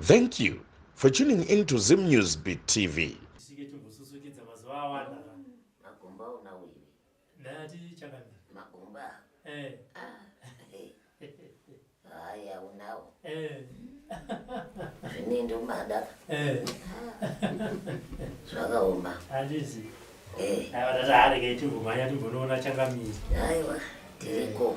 Thank you for tuning in to Zim News Beat TV. zvakaoma handizi aiwa tataareke timbomaanya timbonoona changamiri aiwa tiriko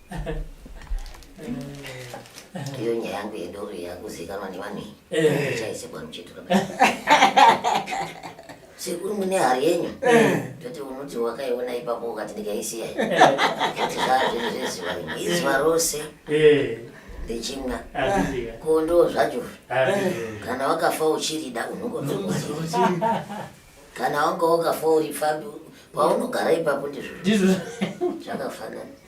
iyo nyaya yangu yedoro yakuzikanwa nevanhu iyi chaisebwa eh. muchitoro sekuru mune hari yenyu eh. toti unoti wakaiona ipapo ukati ndikaisiya kuti eh. zaa zvinhu zvezuva rimwe izuva rose richimwa ko ndo zvacho kana wakafa uchirida unongonoa kana wanga wakafa uri pfambi paunogara ipapo ndizvo zvakafanana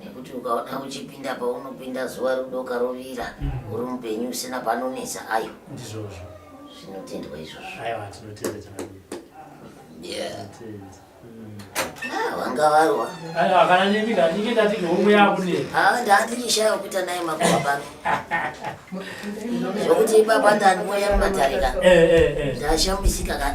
nekuti ukaona uchipinda paunopinda zuva rodoka rovira mm. uri mupenyu usina panonetsa ayo ndizvozvo zvinotendwa izvozvo aiwa tinotenda chakanaka wanga varwa kana nemi kandinge ndati neumwe yakune haa ndandirishayo kuita naye makuva pano zvokuti ipapa ndanimoya mumatarika eh, eh, eh. ndashambisika ka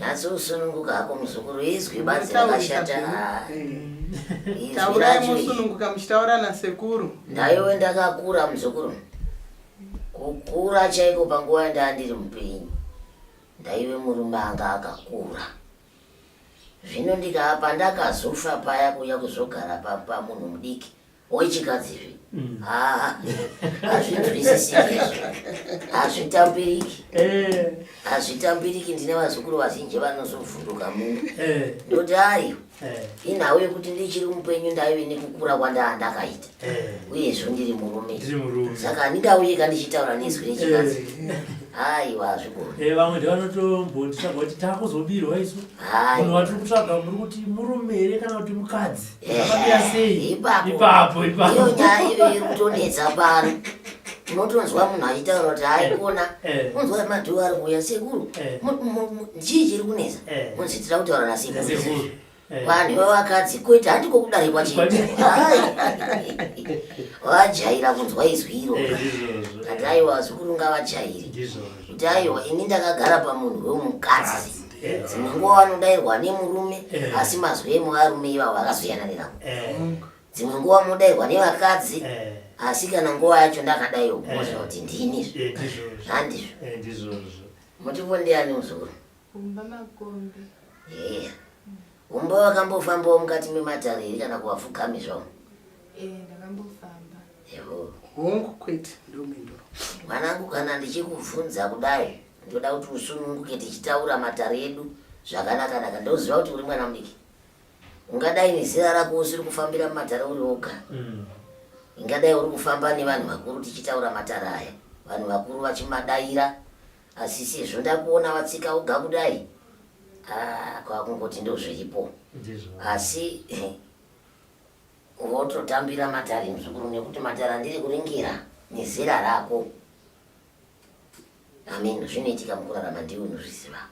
nhasi usununguka hako muzukuru izwi banzi rakashata taurai musununguka muchitaura nasekuru ndaiwe ndakakura muzukuru kukura chaiko panguva yandaa ndiri mupenyu ndaive murume anga akakura zvino ndikaa pandakazofa paya kuuya kuzogara pamunhu mudiki wechikadzi izvi mm. haa hazvinzwisisiki izvi hazvitambiriki eh. hazvitambiriki ndine vazukuru vazhinji vanozovhunduka munhu eh. ndoti ayo eh. inhau yekuti ndichiri mupenyu ndaive nekukura kwandaa ndakaita uyezvo ndiri murume saka handingauye ka ndichitaura nezwi rechikadzi haiwa hazvigoni vamwe ndevanotombonditsvaga kuti takuzobirwa isu munhu watiri kutsvaga muri kuti murume here kana kuti mukadzi ipapo iyo nyaya iyo iri kutonetsa pano unotonzwa munhu achitaura kuti haikona eh. unzwa madhuwo ari kuuya sekuru eh. chii chiri kunetsa eh. unzi tira kutaura nasekuru vanhu vevakadzi kuita handiko kudari kwachii vajaira kunzwa izwi iro kati aiwa zukuru ngavajairi kuti aiwa ini ndakagara pamunhu wemukadzi dzimwe nguva vanodairwa nemurume eh. asi mazwi emuvarume ivavo akazoyana nenavo eh. dzimwe nguva munodairwa nevakadzi eh. asi kana nguva yacho ndakadaiwo kuoza kuti ndini handizvo mutivo ndiani muzukuru kumba makombi Umboo wakambofambawo mukati mematare here kana kuvapfugami zvavo? Eh, ndakambofamba. Eho. Hongu kwete ndomhinduro. Mwanangu kana ndichikubvunza kudai ndoda kuti usununguke tichitaura matare edu zvakanaka naka ndoziva kuti uri mwana mudiki. Ungadai nezera rako usiri kufambira mumatare uri woga. Mm. Ingadai uri kufamba nevanhu vakuru tichitaura matare aya. Vanhu vakuru vachimadaira asi sezvo ndakuona vatsika woga kudai Ah, kwakungoti ndozviripo asi vototambira matare muzukuru nekuti matare andiri kuringira nezera rako amen zvinoitika mukurarama ndiwe unozviziva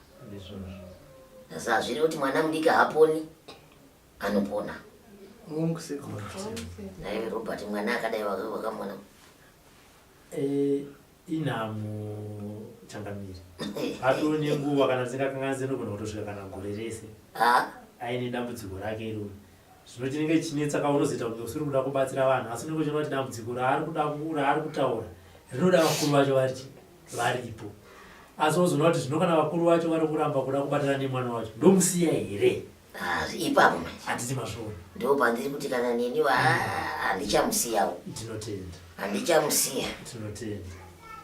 asi hazviri kuti mwana mudiki haaponi anopona naive robert mwana akadai wakamwana Eh, inhamo changamire atoo nenguva kana dzisingakanganise nogona kutosvika kana gore rese Ah, aine dambudziko rake iroro zvino chinenge chinetsa ka unozoita kunge usiri kuda kubatsira vanhu asi unenge uchiona kuti dambudziko raari kuda ku- raari kutaura rinoda vakuru vacho vari varipo asi wozoona kuti zvino kana vakuru vacho vari kuramba kuda kubatana nemwana wacho ndomusiya here Ah, ipapo manje hatisi masvori ndipo pandiri kuti kana neni wa handichamusiyawo tinotenda handichamusiya tinotenda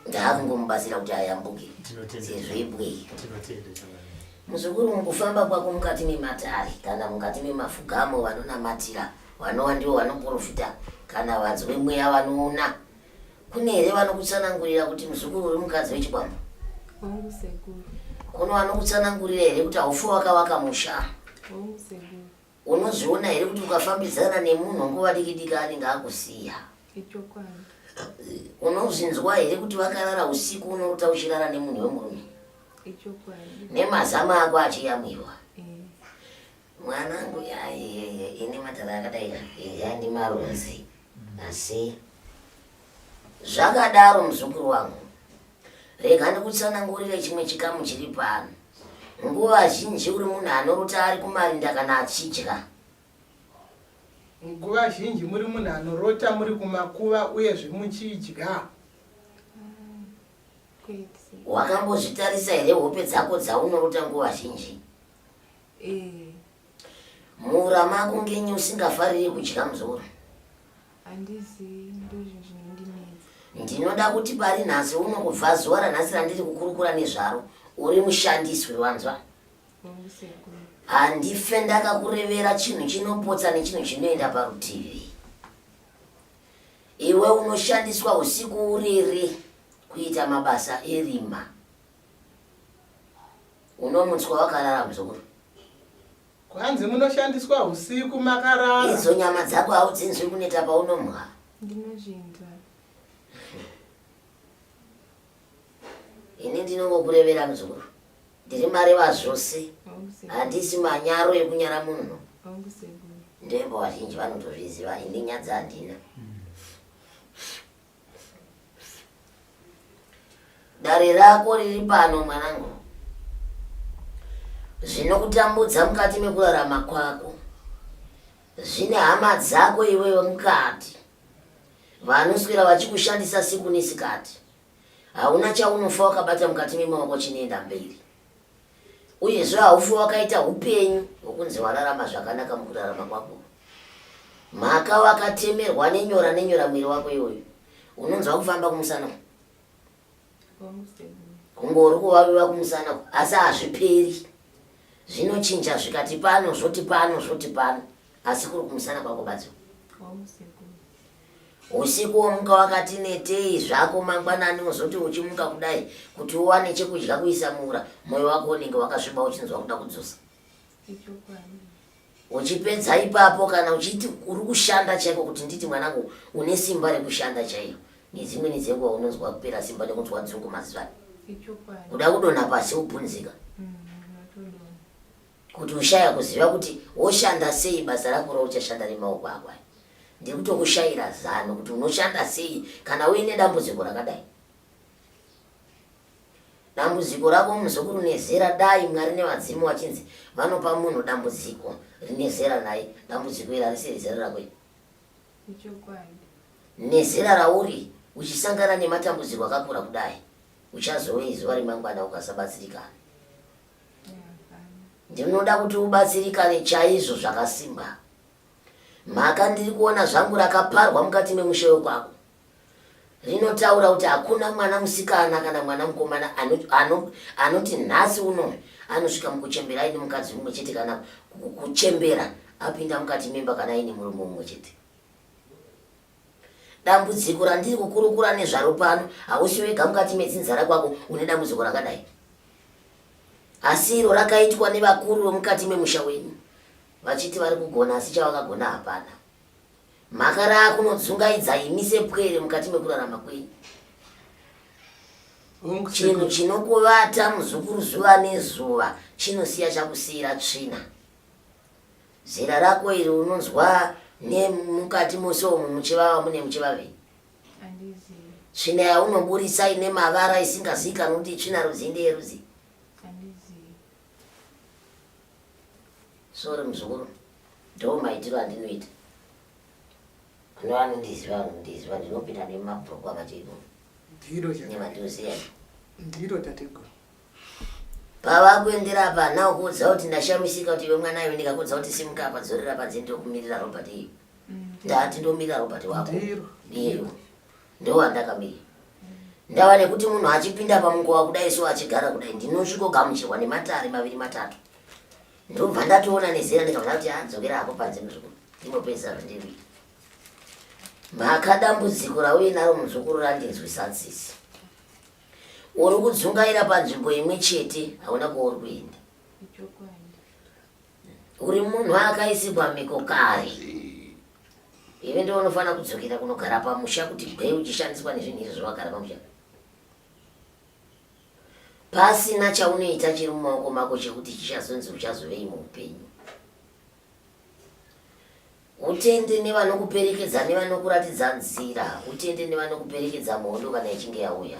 ndaakungomubatsira kuti ayambuke tinotenda sezvo ibwei tinotenda changani muzukuru mukufamba kwako mukati mematare kana mukati memafugamo vanonamatira vanowa ndivo vanoprofita kana vanzwi mweya vanoona Kune here vanokutsanangurira kuti muzukuru uri mukadzi wechikwambo? Hongu sekuru. Kuno vanokutsanangurira here kuti haufe wakavaka musha? Hongu sekuru. Unozviona here kuti ukafambidzana nemunhu nguva diki diki anenge akusiya? Ichokwadi. Unozvinzwa here kuti vakarara usiku unorota uchirara nemunhu wemurume? Ichokwadi. Nemazama ako achiyamwiwa? Mwanangu yaiye ini matare akadai yandi marunzi asi zvakadaro muzukuru wangu rega ndikutsanangurire chimwe chikamu chiri pano nguva zhinji uri munhu anorota ari kumarinda kana achidya nguva zhinji muri munhu anorota muri kumakuva uyezve muchidya wakambozvitarisa here hope dzako dzaunorota nguva zhinji Eh. Mura makungenyi usingafariri kudya mzoro? Handizi ndozvo zvinondinetsa. Ndinoda kuti pari nhasi uno kubva zuva ranhasi randiri kukurukura nezvaro uri mushandiswi wanzwa? Hongu sekuru. Handife ndakakurevera chinhu chinopotsa nechinhu chinoenda parutivi. Iwe unoshandiswa usiku uriri kuita mabasa erima. unomutswa wakarara muzukuru kwanzi munoshandiswa husiku makarara idzo nyama dzako haudzinzwi kuneta paunomwa ndinozvinzwa ini ndinongokurevera muzukuru ndiri mari vazvose handisi manyaro ekunyara munhu ndoimbo vazhinji vanotozviziva ini nyadzi handina mm. Dare rako riri pano mwanangu. Zvinokutambudza mukati mekurarama kwako zvine hama dzako iwewe mukati vanoswera vachikushandisa siku nesikati. Hauna chaunofa wakabata mukati memaoko chinoenda mberi. Uyezve haufi wakaita upenyu hwokunzi wararama zvakanaka mukurarama kwako. Mhaka wakatemerwa nenyora nenyora mwiri wako iwoyo. Unonzwa kufamba kumusana uku. Kungori kuvaviva kumusana uku, asi hazviperi. Zvinochinja zvikati pano, zvoti pano, zvoti pano. Asi kuri kumusana kwako badzo. Usiku womuka wakati netei zvako mangwanani wozoti uchimuka kudai kuti uwane chekudya kuisa muura moyo wako unenge wakasviba uchinzwa kuda kudzosa uchipedza ipapo kana uchiti uri kushanda chaiko kuti nditi mwanangu une simba rekushanda chaiyo nedzimweni dzenguva unonzwa kupera simba nekunzwa dzungu mazivani kuda kudonha pasi ubvunzika mm, kuti ushaya kuziva kuti woshanda sei basa rako rauchashanda nemaoko ako aya ndiri kutokushaira zano kuti unoshanda sei kana uine dambudziko rakadai dambudziko rako muzukuru nezera dai mwari nevadzimu vachinzi vanopa munhu dambudziko rine zera naye dambudziko iri harisi rezera rako i nezera rauri uchisangana nematambudziko akakura kudai uchazowe izuva remangwana ukasabatsirikana ndinoda kuti ubatsirikane chaizvo zvakasimba mhaka ndiri kuona zvangu rakaparwa mukati memusha wekwako rinotaura kuti hakuna mwana musikana kana mwana mukomana anoti nhasi uno anosvika mukuchembera aine mukadzi mumwe chete kana kuchembera apinda mukati memba kana aine murume mumwe chete Dambudziko randiri kukurukura nezvaro pano hausi wega mukati metsinzara kwako une dambudziko rakadai. Asi iro rakaitwa nevakuru vemukati memusha wenyu vachiti vari kugona asi chavakagona hapana. Mhaka raakunodzungaidza imi sepwere mukati mekurarama kwenyu. Chinhu chinokuvata muzukuru zuva nezuva chinosiya chakusiyira tsvina. Zera rako iri unonzwa nemukati mose umu muchivava mune muchivavei? Tsvina yaunoburitsa ine mavara isingazivikanwi kuti itsvina rudzii ndeyerudzii? Sorry muzukuru, ndo maitiro andinoita. Kune vanondiziva vanondiziva ndinopinda nemabhuku akati iko. Ndiro chakadai. Nemadhoziyani. Ndiro tateguru. Pavakuendera apa now kuudza kuti ndashamisika kuti iwe mwana iwe ndikakuudza kuti simuka apa dzorera panze ndokumirira Robert iyo. Ndati ndomirira Robert wako. Ndiro. Ndiro. Ndowandakamira. Ndava nekuti munhu achipinda pamunguva kudai so achigara kudai ndinosvikogamuchirwa nematare maviri matatu. Ndobva ndatoona nezera ndikabva ndati adzokera hako panze muzukuru. Ndinopedzisa zvandiri. Mhaka dambudziko rauye naro muzukuru randinzwisa tsitsi. Uri kudzungaira panzvimbo imwe chete hauna kwauri kuenda. Uri munhu akaisigwa miko kare. Iwe ndiwe unofanira kudzokera kunogara pamusha kuti gwee uchishandiswa nezvinhu izvo zvawagara pamusha. Pasina chaunoita chiri mumaoko mako chekuti chichazonzi uchazovei muupenyu. Utende nevanokuperekedza nevanokuratidza nzira. Utende nevanokuperekedza muhondo kana ichinge yauya.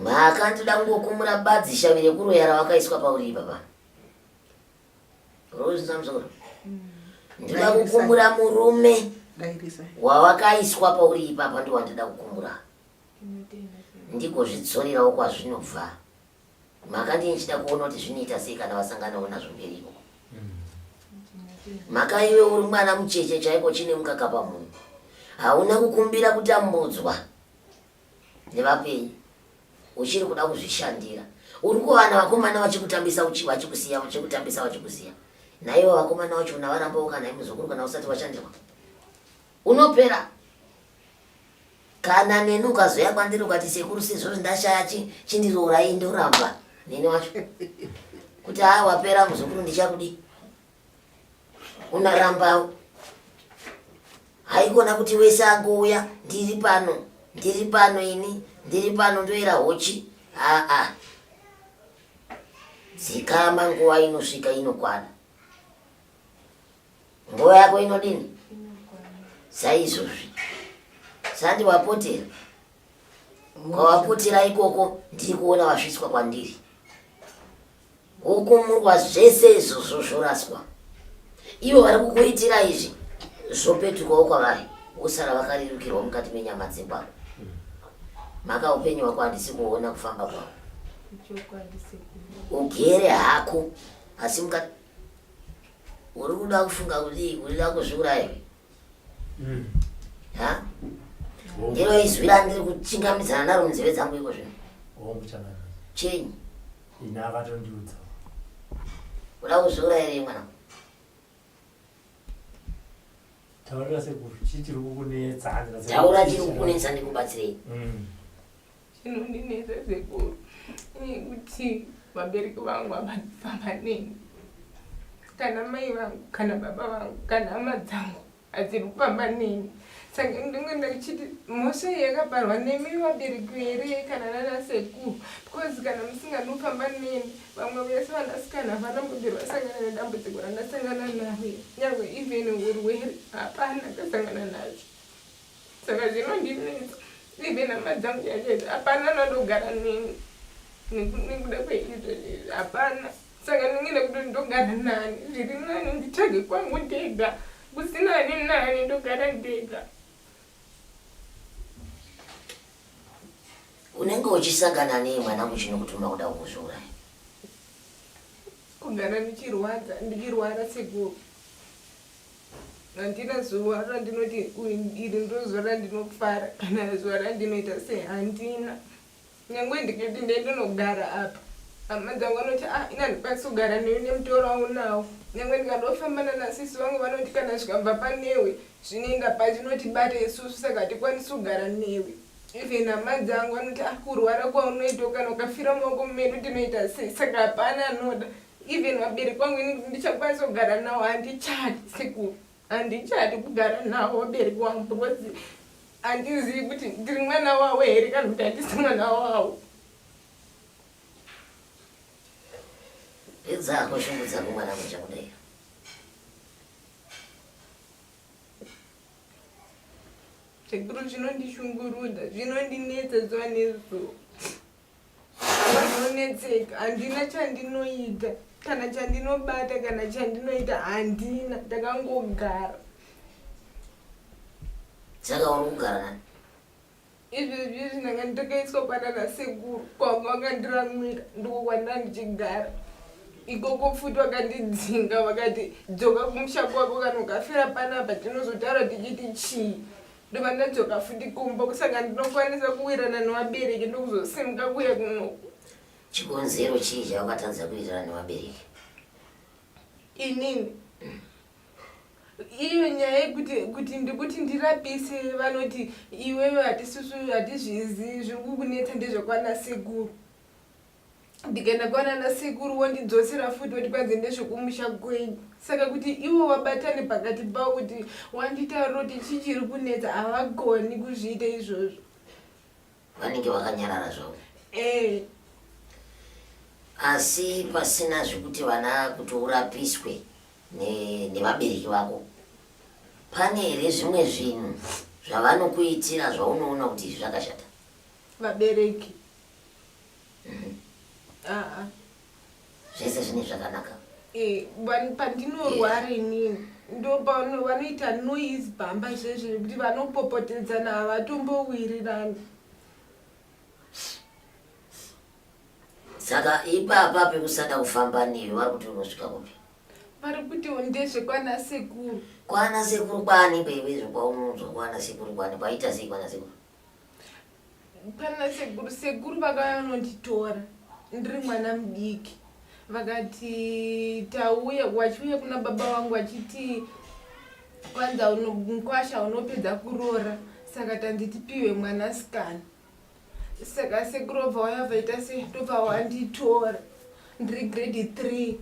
Mhaka ndoda kungokumura badzi shavi rekuroya rawakaiswa pauri ipapa. Rose Samson. Mm. Ndoda kukumura murume wawakaiswa pauri ipapa ndiwandoda kukumura. Ndikozvidzorerawo kwazvinobva. Makadii ndichida kuona kuti zvinoita sei kana vasanganawo nazvo mberi ikoko. Maka iwe uri mwana mucheche chaiko chine mukaka pamunhu. Hauna kukumbira kutambudzwa nevapenyu. Uchiri kuda kuzvishandira. Uri kuwana vakomana vachikutambisa vachikusiya vachikutambisa vachikusiya. Naivo vakomana vacho unavaramba ukanai muzukuru kana usati washandirwa. Unopera kana neni ukazoya kwandiri ukati sekuru sezvori ndashaya chi chindiroorai ndoramba neni wacho kuti haa wapera muzukuru ndichakudi unarambawo haikona kuti wese angouya ndiri pano ndiri pano ini ndiri pano ndoera hochi aa dzikama nguva inosvika inokwana nguva yako inodini saizvozvi sandi wapotera kwawapotera ikoko ndiri kuona wasvitswa kwandiri wokumurwa zvese izvozvo zvoraswa ivo vari kukuitira izvi zvopetukawo kwavari wosara vakarerukirwa mukati menyama dzekwako maka upenyu wako handisi kuona kufamba kwako ugere hako asi mukati Uri kuda kufunga kudii kuda kuzviuraya iwe? Mm. Ha? Ndiro izwi randiri kuchingamidzana naro munzeve dzangu iko zvino. Hongu chakadai. Chenyi? Ini akatondiudza. Uda kuzviuraya ere mwana? Taurira sekuru, chii chiri kukunetsa? Taura chiri kukunetsa ndikubatsirei. Mm. Zvinondinetsa sekuru ini kuti vabereki vangu havafamba neni kana mai vangu kana baba vangu kana hama dzangu hadziri kufamba neni saka ndinge ndachiti mhosva iyi yakaparwa nemi vabereki here kana nana sekuru because kana musinganofamba neni vamwe vese vanasikana havana mbobiri vasangana nedambudziko randasangana naro nyangwe even urwere hapana ndasangana nacho saka zvinondinetsa ndive nhama dzangu yachete hapana anodogara neni nekuda kweizvo izvi hapana saka ndinge nekuti ndogara nani zviri nani nditsvage kwangu ndega kusina ani nani ndogara ndega unenge uchisangana nei mwanangu chinokutuma kuda kukuzviuraya kugara ndichirwadza ndichirwara sekuru handina zuva randinoti iri ndozuva randinofara kana zuva randinoita se handina nyange ndikati ndee ndinogara apa hama dzangu vanoti a ah, ina ndikwanisi kugara newe nemutoro aunawo nyange ndikandofamba nanasisi vangu vanoti kana zvikabva panewe zvinoenda pachinotibata isusu saka hatikwanisi kugara newe even hama dzangu vanoti a ah, kurwara kwaunoitawo kana ukafira maoko medu tinoita sei saka hapana anoda no, even vabereki vangu ini kuti ndichakwanisa kugara nawo handichadi sekuru handichadi kugara nawo vabereki wangu because handizivi kuti ndiri mwana wawo here kana kuti handisi mwana wawo idzako shungu dzako mwana mucha kudai sekuru zvinondishungurudza zvinondinetsa zuva nezuva vanonetseka handina chandinoita kana chandinobata kana chandinoita handina ndakangogara saka uri kugara nani izvezvi izvi ndanga nditakaiswa kwanana sekuru kwanga vakandiramwira ndiko kwandanga ndichigara ikoko futi vakandidzinga vakati dzoka kumusha kwako kana ukafira panapa tinozotaura tichiti chii ndobva ndadzoka futi kumba kusaka ndinokwanisa kuwirana nevabereki ndokuzosimuka kuya kunoku chikonzero chii chaukatadza kuwirana nevabereki inini mm. iyo nyaya yekuti kuti ndikuti ndirapise vanoti iwewe hatisisu hatizvizi zviri kukunetsa ndezvekwana sekuru ndikaenda kwanana sekuru wondidzosera futi woti kwanzi ndezvekumusha kwenyu saka kuti ivo vabatane pakati pavo kuti wanditaura kuti chii chiri kunetsa havagoni kuzviita izvozvo vanenge vakanyarara zvavo ee asi pasina zvekuti vana kuti urapiswe ne- nevabereki vako pane here zvimwe zvinhu zvavanokuitira zvaunoona kuti izvi zvakashata vabereki zvese zvine zvakanaka eh, pandinorwara inini ndopano vanoita noise bhamba izvezvo kuti vanopopotedzana havatombowirirani saka ipapa pekusada kufamba newe vari kuti unosvika kupi vari kuti ndezve kwana sekuru kwana sekuru kwani bebe zvokwaunounzwa kwana sekuru kwani kwaita sei kwana sekuru pana sekuru sekuru vakauya vanonditora ndiri mwana mudiki vakati tauya vachiuya kuna baba vangu vachiti kwanza mukwasha unopedza kuroora saka tanditipiwe mwana sikana saka sekuru obva waya vaita se tobva wanditora ndiri grade three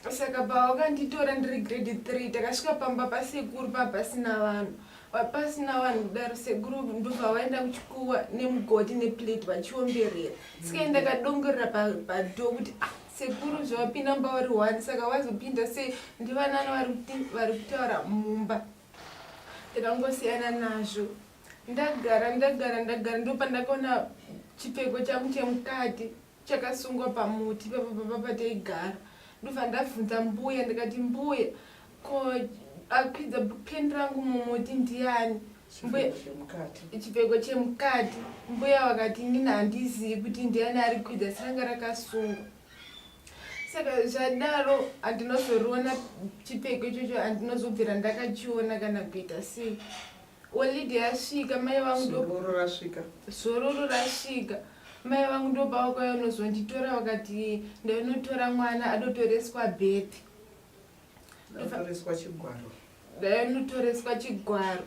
saka pavakanditora ndiri grade three takasvika pamba pasekuru pava pasina vanhu vapasina vanhu kudaro sekuru ndobva vaenda kuchikuwa nemugoti neplate vachiomberera sika ndakadongorera pado kuti ah, sekuru zvavapinda mumba vari one saka vazopinda sei ndivanani vari kutaura mumba ndakangosiyana nazvo ndagara ndagara ndagara ndopandakaona chipfeko changu chemukati chakasungwa pamuti ipapo papa pataigara ndobva ndabvunza mbuya ndikati mbuya ko akwidza peni rangu mumuti ndiani chipfeko chemukati mbuya vakati inini handizivi kuti ndiani ari kwidza siranga rakasungwa saka zvadaro handinozoriona chipfeko ichocho handinozobvira ndakachiona kana kuita sei Holiday yasvika mai vangu zororo rasvika. Zororo rasvika. Mai vangu ndobva vakauya unozonditora vakati ndainotora mwana adotoreswa birth. Ndotoreswa chigwaro. Ndainotoreswa chigwaro.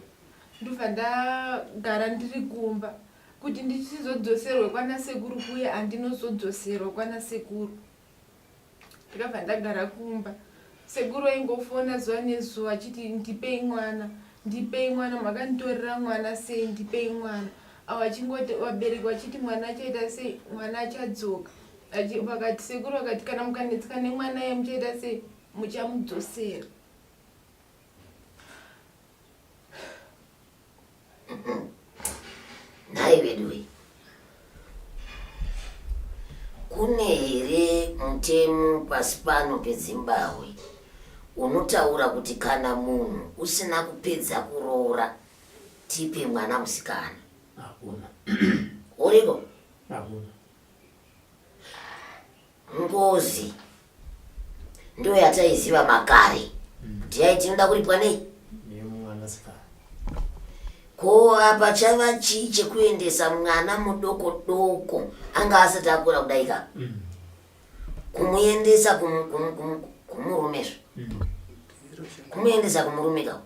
Ndobva ndagara ndiri kumba kuti ndichizodzoserwe kwana sekuru kuye andinozodzoserwa kwana sekuru. ndakabva ndagara kumba sekuru aingofona zuva nezuva achiti ndipei mwana ndipei mwana makanditorera mwana sei ndipei mwana avo achingoti vabereki vachiti mwana achaita sei mwana achadzoka vakati sekuru vakati kana mukanetseka nemwana ye muchaita sei muchamudzosera Nhai veduwe, kune here mutemo pasi pano peZimbabwe unotaura kuti kana munhu usina kupedza kuroora tipe mwana musikana? Hakuna. Uriko? Hakuna. Ngozi ndiyo yataiziva makare kuti yai tinoda kuripwa nei ko apa chava chii chekuendesa mwana mudoko doko anga asati akura kudai ka mm. kumuendesa kumurume zvo mm. kumuendesa kumurume ka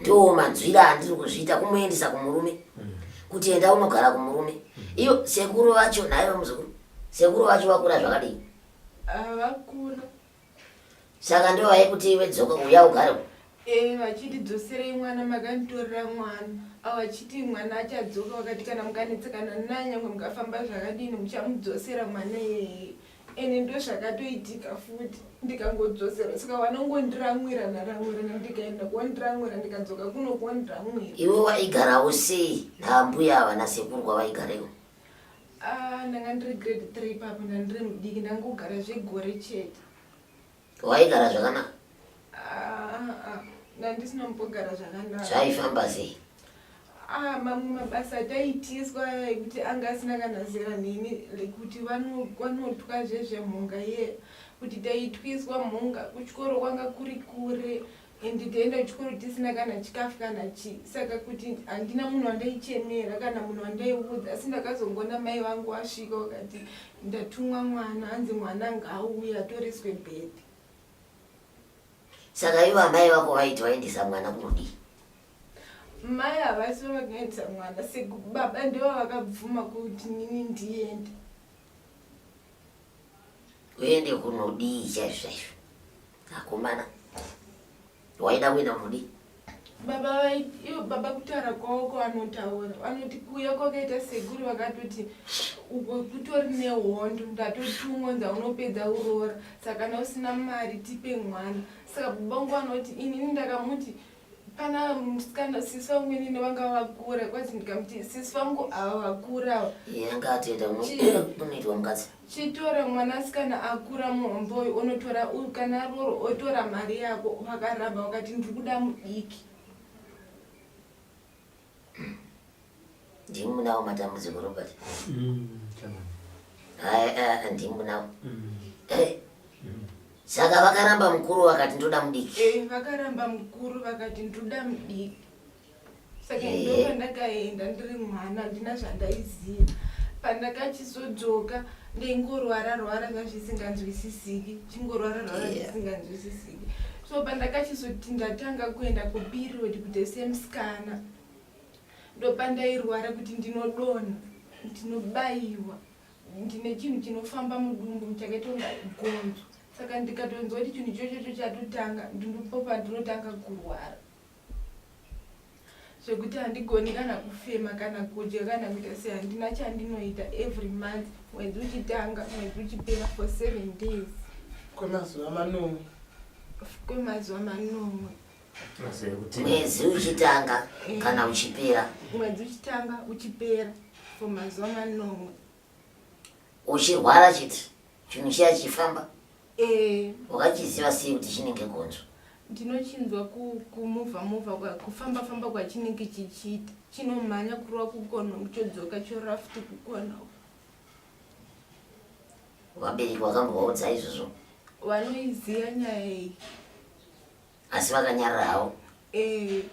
ndoo manzwira andiri kuzviita kumuendisa kumurume mm. kuti enda unogara kumurume mm. iyo sekuru vacho naive muzukuru sekuru vacho vakura zvakadii ah, vakura saka ndo vaikuti ive dzoka uya ugare eh, vachindidzoserei mwana makanditorera mwana avo vachiti mwana achadzoka vakati kana mukanetsekana nanyangwe mukafamba zvakadini muchamudzosera mwana iyeye ende ndozvakatoitika futi ndikangodzosera saka vanongondiramwirana ramwirana ndikaenda kuondiramwira ndikadzoka kuno kuondiramwira iwe waigara usei naambuya havana sekurwa vaigarewo ah, ndanga ndiri grade three papo ndandiri mudiki ndangogara zvegore chete Waigara zvakanaka? Ah, ah, ndandisina mbogara zvakanaka. Zvaifamba sei? Ah, mamwe mabasa ataitiswa ekuti anga asina kana zera neni lekuti vanotwa zvezvemhunga iye kuti taitwiswa mhunga kuchikoro kwanga kuri kure and taienda kuchikoro tisina kana chikafu kana chii saka kuti handina munhu wandaichemera kana munhu wandaiudza asi ndakazongoona mai vangu wasvika wakati ndatumwa mwana hanzi mwana ngaauye atoreswe bhedhi saka ivo amai vako vaiti vaendesa mwana kunodii mai havasi vavakaendesa mwana sekubaba ndivo vakabvuma kuti nini ndiende uende kunodii chaizvo chaizvo Akomana. Waida kuenda kunodii? baba vaiyo baba kutaura kwavo kwavanotaura vanoti kuuya kwakaita sekuru vakatoti uko kutori nehondo ndatotumwa nza unopedza uroora saka kana usina mari tipe mwana saka baba ngo vanoti inini ndakamuti Pana musikana sisi vangu inini vanga vakura kwazi ndikamuti sisi vangu ava vakura ava. Iye ngatienda kunoitwa mukadzi. Chitora mwanasikana akura muhomboyi unotora kana roro otora mari yako vakaramba vakati ndiri kuda mudiki. ndimi munawo matambudziko robert ndimunawo saka vakaramba mukuru vakati ndoda mudiki eh, vakaramba mukuru vakati ndoda mudiki saka eh. ndo pandakaenda ndiri mwana ndina zvandaiziva pandakachizodzoka ndingorwara rwara zvazvisinganzwisisiki chingorwara rwara zvisinganzwisisiki so pandakachizoti ndatanga kuenda kuperiod kuti semusikana ndopandairwara kuti ndinodonha ndinobayiwa ndine chinhu chinofamba mudumbu chakaitonga gonzo saka ndikatonzwa kuti chinhu chochocho chatotanga ndinopopa ndinotanga kurwara zvekuti handigoni kana kufema kana kudya kana kuita sei handina chandinoita every month mwedzi uchitanga mwedzi uchipera for seven days kwemazuva manomwe kwemazuva manomwe mwedzi uchitanga eh. kana uchipera mwedzi uchitanga uchipera for mazuva manomwe Uchirwara chete chinhu chiya chifamba. Eh. Wakachiziva sei kuti chinenge gonzo? Ndinochinzwa kumuvha muvha kufamba famba kwachinenge chichiita. Chinomhanya kurova kukona kuchodzoka chorora futi kukona. Vabereki vakambovaudza izvozvo? Vanoiziva nyaya iyi. Asi vakanyarara havo? Eh.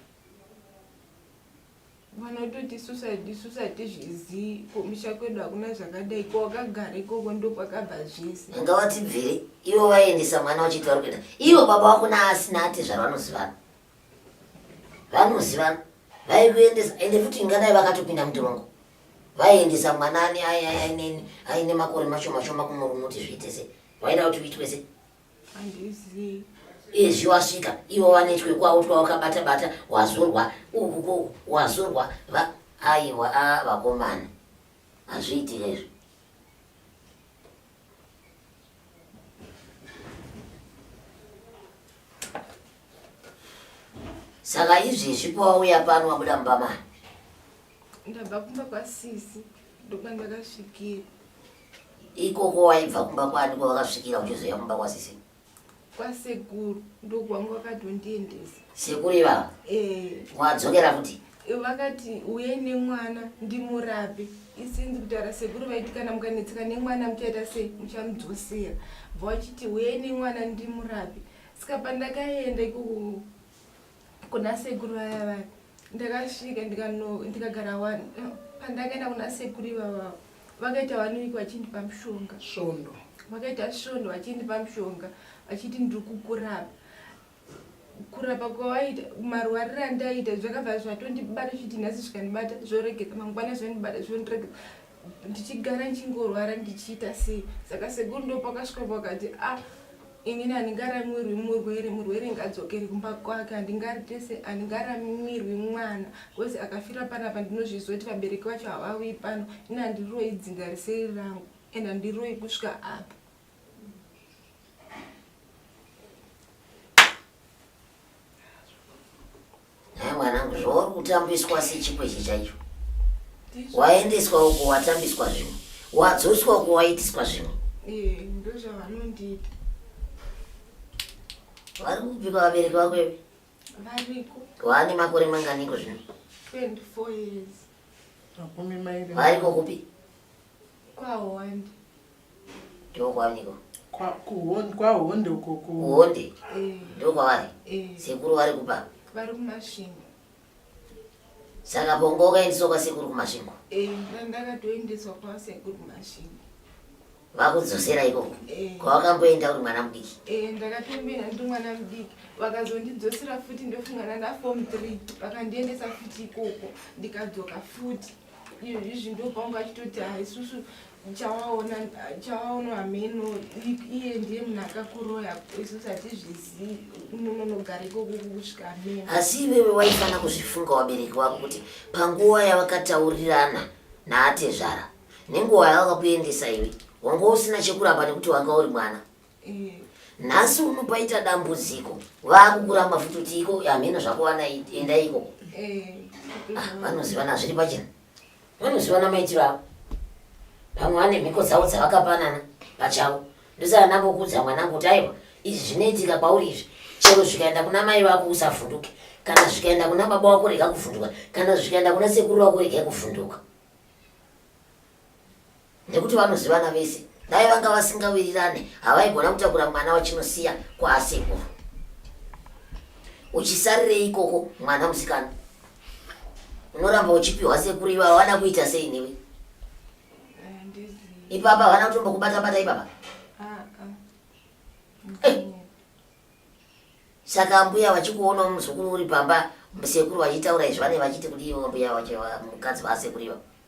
mwana ototi susaidi susaidi zvizi kumusha kwedu hakuna zvakadai ko wakagara ikoko ndokwakabva zvese ngavatibvire ivo vaendesa mwana vachiti vari kuenda ivo baba vako naasina ati zvavanozivana vanozivana vaikuendesa ende futi ingadai vakatopinda mutirongo vaiendesa mwana ani aine makore mashoma shoma kumurumuti zviite se vaida kuti uitwe se handizivi izvi wasvika ivo vanetwe kwavo twawakabata bata wazorwa uku kuku wazorwa va aiwa a vakomana hazviitire izvo saka izvezvi pawauya pano wabuda mubamana ndabva kumba kwasisi ndokwandakasvikira ikoko waibva kumba kwani kwavakasvikira uchizoya kumba kwasisi kwasekuru ndokwangu vakatondiendesa sekuru ivava eh. wadzokera futi vakati uye nemwana ndimurape isinzi kutaura sekuru vaiti kana mukanetseka nemwana muchaita sei muchamudzosera bva vachiti uye nemwana ndimurape saka pandakaenda ikoko kuna sekuru vaya vaya ndakasvika ndikagara wani pandakaenda kuna sekuru ivavavo vakaita waniwiki vachindipa mushonga svondo vakaita svondo vachindipa mushonga vachiti ndiri kukurapa kurapa kwawaita marwariro andaiita zvakabva zvatondibata zviti nhasi zvikandibata zvoregedza mangwana zvondibata zvondiregedza ndichigara ndichingorwara ndichiita sei saka sekuru ndo pakasvika pakati a ah, ini handingaramwirwi murwere murwere ngadzokere kumba kwake handingaritese handingaramwirwi mwana bcause akafira panapa ndinozviziva kuti vabereki vacho havauyi pano ini handiroi dzinga riseri rangu and handiroi kusvika apa Haa mwanangu zvauri kutambiswa sechikweshe chaicho. Waendeswa uko watambiswa zvimwe. Wadzoswa uko waitiswa zvimwe. Eh, ndozvavanondiita. Vari kupika vabereki vako iwe. Variko. Waane makore manganiko zvino? 24 years. Makumi mairi. Variko kupi? Kwahonde. Ndokwaniko? Kwa kuhonde kwahonde uko ku. Kuhonde. Eh. Ndokwavari. Eh. Sekuru vari kupa. Vari kumasvingo. Saka bongo ukaendeswa kwa sekuru kumasvingo. Eh, ndakatoendeswa kwa sekuru kumasvingo. Vakudzosera ikoko. Eh. Kwawakamboenda uri mwana mudiki. Eh, ndakatomboenda ndi mwana mudiki. Vakazondidzosera futi ndofungana na form 3. Vakandiendesa futi ikoko ndikadzoka futi. izvi ndopanga achitoti haisusu chawaona chawaona hameno iye ndiye munhu akakuroya isusu hatizvizivi unonogara ikoko kusvika hameno asi iwewe waifanira kuzvifunga wabereki wako kuti panguva yavakataurirana naatezvara nenguva yavakakuendesa iwe wanga usina chekuramba nekuti wanga uri mwana nhasi uno paita dambudziko vakukuramba futi kuti iko hamheno zvakuwana enda iko eh, ah, vanozivana zviri pachena vanozivana maitiro avo vamwe vane mhiko dzavo dzavakapanana pachavo ndosaka ndangokudza mwanangu kuti aiwa izvi zvinoitika kwauri izvi chero zvikaenda kuna mai vako usavhunduke kana zvikaenda kuna baba wako rega kuvhunduka kana zvikaenda kuna sekuru wako rega kuvhunduka nekuti vanozivana vese dai vanga vasingawirirane havaigona kutakura mwana wachinosiya kwaasekuru uchisarirei ikoko mwana musikana unoramba uchipiwa sekuru iva havana kuita sei newe ipapa havana kutombokubata bata ipapa eh. saka mbuya vachikuona muzukuru uri pamba musekuru vachitaura izvi vane vachiti kudii mbuya mukadzi vasekuru ivavo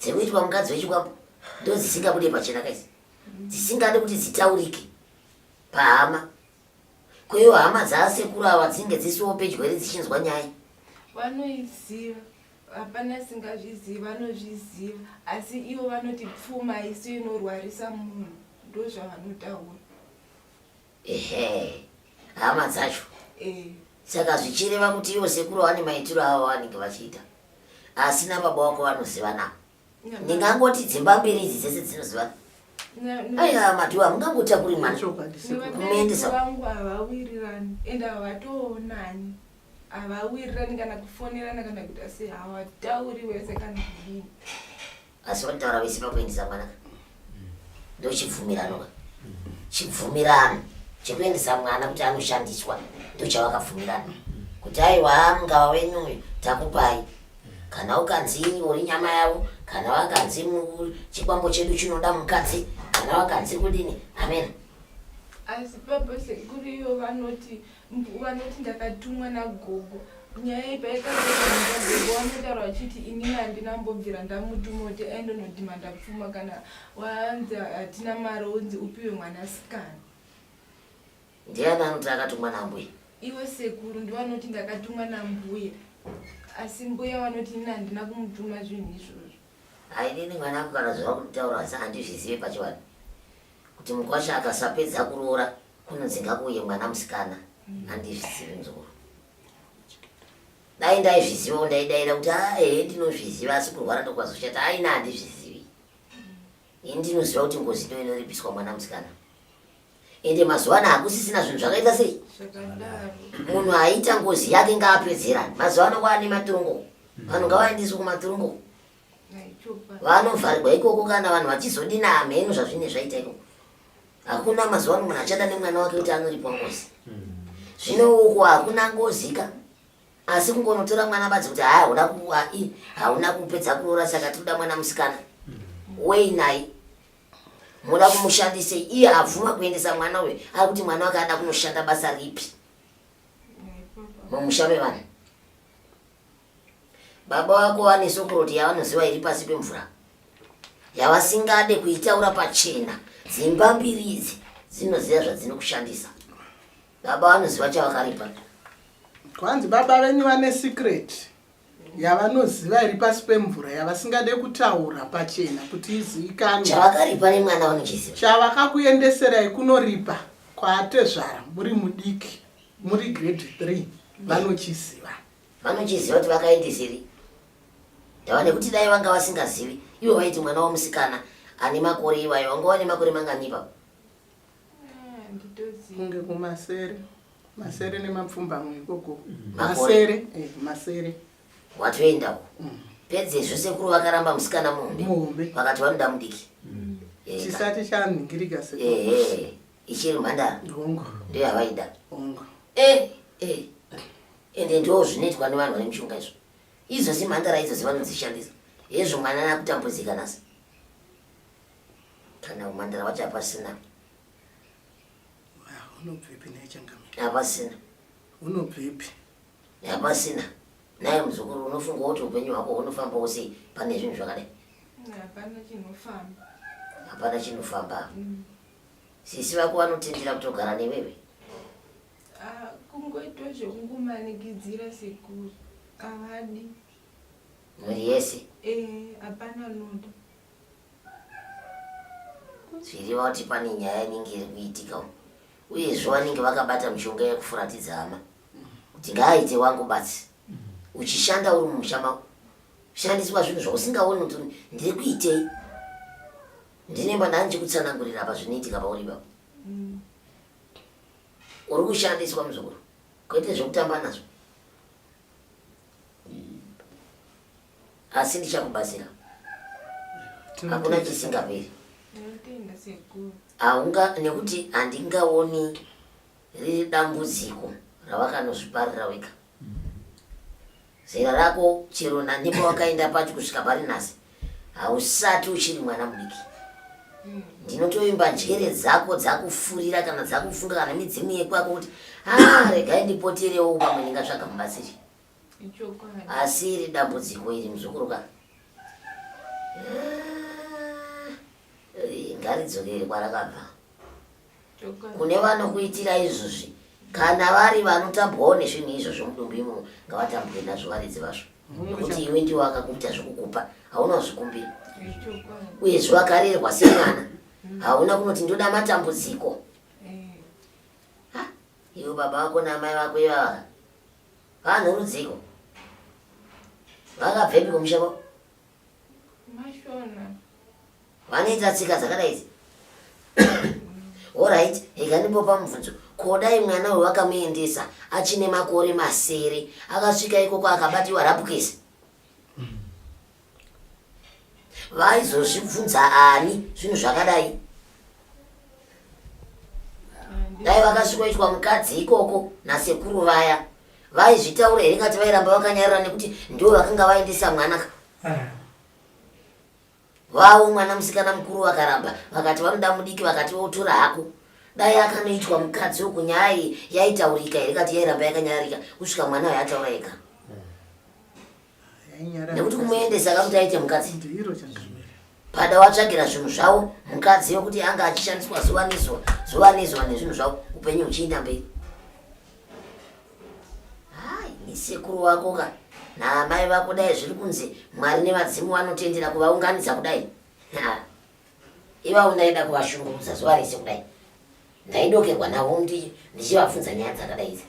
dziri kuitwa mukadzi wechikwambo ndo dzisingabude pachena kaisi dzisingade kuti dzitaurike pahama kweyo hama dzaasekuru ava dzinge dzisiwo pedyo here dzichinzwa nyaya vanoiziva hapana singazvizivi vanozviziva asi ivo vanoti pfuma isu inorwarisa munhu ndozvavanotaura ehe hama dzacho eh. saka zvichireva kuti ivo sekuru vane maitiro avo vanenge vachiita asi nababa wako vanozivana ndingangoti dzimba mbiri idzi dzese dzinozivana aiwa madhuwa mungangoita kuri mwana kumuendesa vangu havawirirani ende havatoonani havawirirani kana kufonerana kana kuita sei hawatauri wese kana kudini asi vanotaura vese pakuendesa mwana ndochibvumirano chibvumirano chekuendesa mwana kuti anoshandiswa ndochavakabvumirana kuti aiwa mungava wenyu uyu takupai kana ukanzi uri nyama yavo kana wakanzi chikwambo chedu chinoda mukadzi kana wakanzi kudini amena asi purpose ikuru iyo vanoti vanoti ndakatumwa nagogo nyaya iyi paikagogo vanotaura vachiti inini handina mbobvira ndamutuma kuti aindonodhimanda pfuma kana wanzi hatina mari unzi upiwe mwanasikana ndiani anoti akatumwa nambuya iwe sekuru ndivanoti ndakatumwa nambuya asi mbuya vanoti inini handina kumutuma zvinhu izvozvo hainini mwana ako kana zvava kutaura asi handizvizive pachivanhu Kuti mukwasha akasapedza kuroora kunonzi ngakuuye mwana musikana handizvizivi muzukuru. Dai ndaizviziva ndaidaira kuti ahe ah, ndinozviziva asi kurwara ndokwazoshata aina handizvizivi. Ini ndinoziva kuti ngozi ndo inoripiswa mwana musikana. Ende mazuva ano hakusisina zvinhu zvakaita sei? Munhu aita ngozi yake ngaapedzerani. Mazuva ano kwaane matirongo. Vanhu ngavaendeswe kumatirongo. vanovharirwa ikoko kana vanhu vachizodina hamheno zvazvine zvaita ikoko hakuna mazuva ano munhu achada nemwana wake kuti anoripwa ngozi zvino uko hakuna ngozika asi kungonotora mwana badzi kuti haa huda kuai hauna kupedza kuroora saka tinoda mwana musikana wei naye muda kumushandise iye abvuma kuendesa mwana uyo ari kuti mwana wake ada kunoshanda basa ripi mumusha mevanhu Baba vako vane sokoroti yavanoziva iri pasi pemvura yavasingade kuitaura pachena. Dzimba mbiri idzi dzinoziva zvadzinokushandisa. Baba vanoziva chavakaripa. Kwanzi baba venyu vane secret yavanoziva iri pasi pemvura yavasingade kutaura pachena kuti izivikanwe. Chavakaripa nemwana vanochiziva. Chavakakuendeserai kunoripa kwaatezvara muri mudiki muri grade 3 vanochiziva. Vanochiziva kuti vakaindisiri ndava nekuti dai vanga vasingazivi ivo vaiti mwana womusikana ane makore ivayo vanga vane makore mangani ipapo kunge kumasere masere nemapfumbamwe ikoko masere eh, masere watoenda uko mm. pedzezvo sekuru vakaramba musikana muhombe muhombe vakati vanoda mudiki mm. eh, chisati chanhingirika sekuru eh, ichiri mhandara hongo ndiyo yavaida hongo eh, eh. ende ndoo zvinoitwa nevanhu vane mishonga izvo idzo zimhandara idzo dzevanodzishandisa hezvo mwana nakutambudzika nhasi kana umhandara wacho hapasina hapasina unobvepi hapasina naye muzukuru unofunga kuti upenyu hwako hunofamba wose pane zvinhu zvakadai hapana chinofamba mm. sisi vako vanotendera kutogara newewe Ah, kungoitwa zvekungomanikizira sekuru avadi mhuri yese eh, hapana anoda zviriva kuti pane nyaya inenge iri kuitika umu uyezve vanenge vakabata mishonga yekufuratidza hama kuti ngaaite wangu batsi uchishanda uri mumusha mako shandiswa zvinhu zvausingaoni kuti ndiri kuitei ndine mwana ndichikutsanangurira apa zvinoitika pauri ipapo mm. uri kushandiswa muzukuru kwete zvekutamba nazvo hmm. asi ndichakubatsira hakuna chisingaperi haunga nekuti handingaoni riri dambudziko ravakanozviparira wega Zera rako chero nanhipa wakaenda pacho kusvika pari nhasi hausati uchiri mwana mudiki. Ndinotoimba njere dzako dzakufurira kana dzakufunga kana midzimu yekwako kuti ah, regai ndipoterewo pamwe ndingatsvaga mubatsiri. Asi iri dambudziko iri muzukuru ka. Ah, ngaridzokere kwarakabva. kune vanokuitira izvozvi kana vari vanotambwawo nezvinhu izvo zvomudumbu imomo ngavatambwe nazvo varidzi vazvo nekuti iwe ndiwo akakuita zvekukupa hauna kuzvikumbira uyezve wakarerwa semwana hauna kunoti ndoda matambudziko iwe baba vako naamai vako ivava vanhu rudziko vakabvepi kumusha kwako Vanoita tsika dzakadai idzi. Alright, rega ndimbopa mubvunzo. Ko dai mwana uyu wakamuendesa achine makore masere akasvika ikoko akabatiwa rapukesi? Vaizozvibvunza ani zvinhu zvakadai? Dai vakasvikoitwa mukadzi ikoko nasekuru vaya vaizvitaura here ngati vairamba vakanyarara nekuti ndivo vakanga vaendesa mwana ka? Ah. Vavo mwana musikana mukuru vakaramba vakati vanoda mudiki vakati votora hako dai akanoitwa mukadzi uku nyaya iyi yaitaurika here kati yairamba yakanyararika kusvika mwana uyo ataura ega nekuti kumuendesa akakuti aite mukadzi pada watsvagira zvinhu zvavo mukadzi yokuti anga achishandiswa zuva nezuva zuva nezuva nezvinhu zvavo upenyu huchiinda mberi Hai, sekuru wako ka naamai vako dai zviri kunzi Mwari nevadzimu vanotendera kuvaunganidza kudai. Ha. Ivavo ndaida kuvashungurudza zuva rese kudai. Ndaidokerwa navo ndi- ndichivabvunza nyaya dzakadai idzi.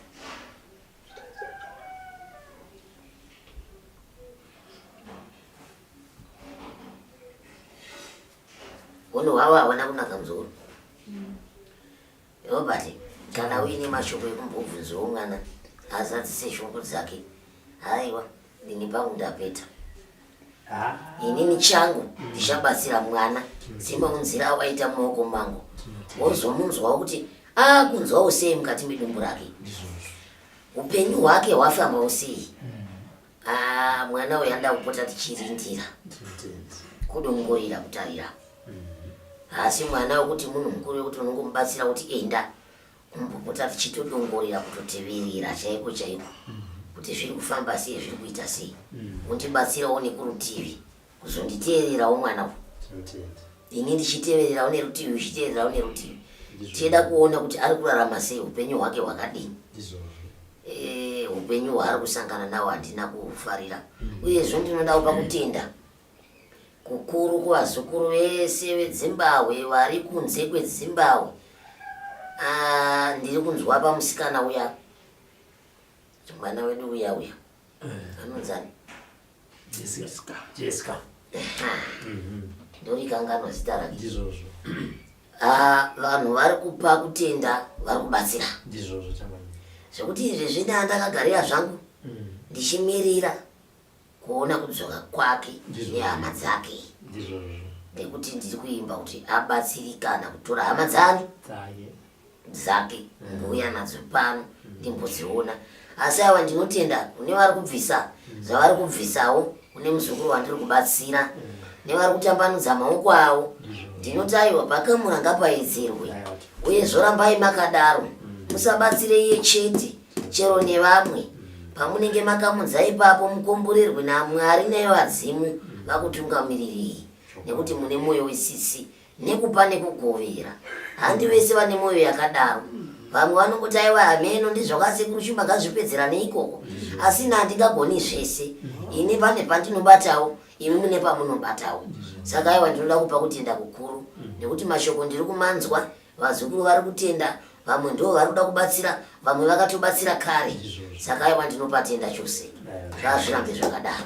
Hunhu hwavo havana kunaka muzukuru. Robert kana uine mashoko ekumbobvunzawo mwana azadzise shungu dzake haiwa ini pangu ndapeta ah. inini changu ndichabatsira mwana semaunzira awaita mumaoko mangu wozomunzwawo kuti akunzwawo ah, sei mukati medumbu rake upenyu hwake hwafambawo sei hmm. Ah, mwana uyu anoda kupota tichirindira kudongorera kutarira haasi mwana wekuti munhu mukuru wekuti unongomubatsira kuti enda kumbopota tichitodongorera kutoteverera chaiko chaiko kuti zviri kufamba sei zviri kuita sei undibatsirawo nekurutivi kuzonditeererawo mwana uyu Tinotenda. ini ndichitevererawo nerutivi uchiteererawo nerutivi tichida kuona kuti ari kurarama sei upenyu hwake hwakadini Ndizvozvo. Eh, upenyu hwaari kusangana nawo handina kuhufarira uyezve ndinodawo pakutenda kukuru kuvazukuru vese vedzimbahwe vari kunze kwedzimbahwe Ah, ndiri kunzwa pamusikana uya mwana wedu uya uya anonzani jessica jessica mhm. ndorikanganwa zita rake ndizvozvo ah, vanhu vari kupa kutenda vari kubatsira ndizvozvo zvekuti izvi zvina ndakagarira zvangu mhm. ndichimirira kuona kudzoka kwake nehama dzake ndizvozvo nekuti ndiri kuimba kuti abatsirikana kutora hama dzani dzake mbuya nadzo pano ndimbodziona asi awa ndinotenda kune vari kubvisa zvavari kubvisawo kune muzukuru wandiri kubatsira nevari kutambanudza maoko avo ndinotaiwa pakamura ngapaedzerwe uye zvorambai makadaro musabatsire iye chete chero nevamwe pamunenge makamudza ipapo mukomborerwe namwari nevadzimu vakutungamirirei nekuti mune mwoyo wesisi nekupa nekugovera handi vese vane mwoyo yakadaro vamwe vanongoti aiwa hameno ndizvakasekuru shumba ngazvipedzera neikoko asi na handingagoni zvese ini pane pandinobatawo imi mune pamunobatawo saka aiwa ndinoda kupa kutenda kukuru nekuti mashoko ndiri kumanzwa vazukuru vari kutenda vamwe ndo vari kuda kubatsira vamwe vakatobatsira kare saka aiwa ndinopatenda chose ngazvirambe zvakadaro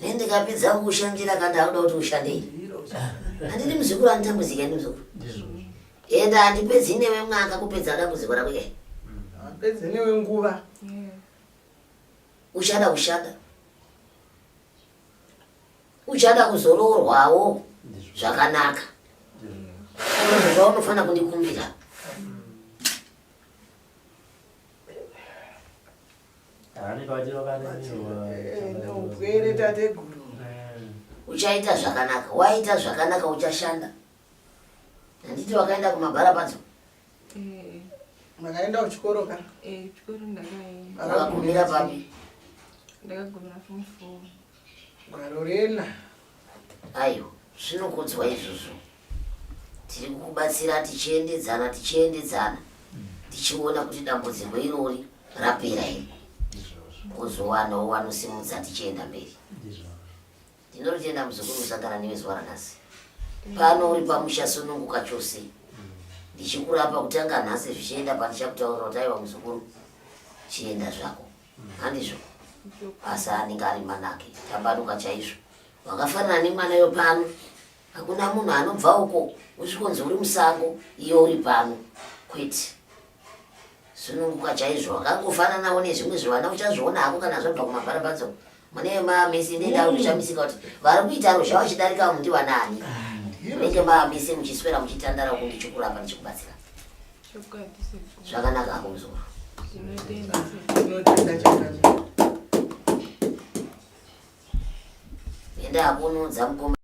ne ndikapedza kukushandira ka ndakuda kuti ushandei handidi muzukuru anditambudzika ini muzukuru ende handipedzi newe mwaka kupedza dambudziko rako ke handipedzi newe nguva uchada kushanda uchada kuzoroorwawo zvakanaka zvaunofanira kundikumbira neupwere tateguru uchaita zvakanaka waita zvakanaka uchashanda handiti wakaenda kumabhara padzo eh. makaenda kuchikoro ka eh, chikoro ndakaenda wakagumira papi ndakagumira form four Gwaro rena. Ayo, zvinokudzwa izvozvo. Tiri kukubatsira tichiendedzana tichiendedzana tichiona kuti dambudziko irori rapera here kuzowanawo wanosimudza tichienda mberi ndinotenda muzukuru kusangana newe zuva ranhasi pano uri pamusha sununguka chose ndichikurapa kutanga nhasi zvichienda pandichakutaurira kuti aiwa muzukuru chienda zvako handizvo asi anenge ari mwanake tabaruka chaizvo wakafanana nemwana yo pano hakuna munhu anobva uko usvikonzi uri musango iyo uri pano kwete sununguka chaizvo wakangofananawo nezvimwe zvivana uchazviona hako kana zvabva kumabharabadzo mune mamisi ndida mm. kushamisika kuti vari kuita ruzha vachidarika vamu ndivanani munenge ah, mamisi muchiswera muchitandara uku ndichikurapa ndichikubatsira zvakanaka ako muzoro enda akunudza mukoma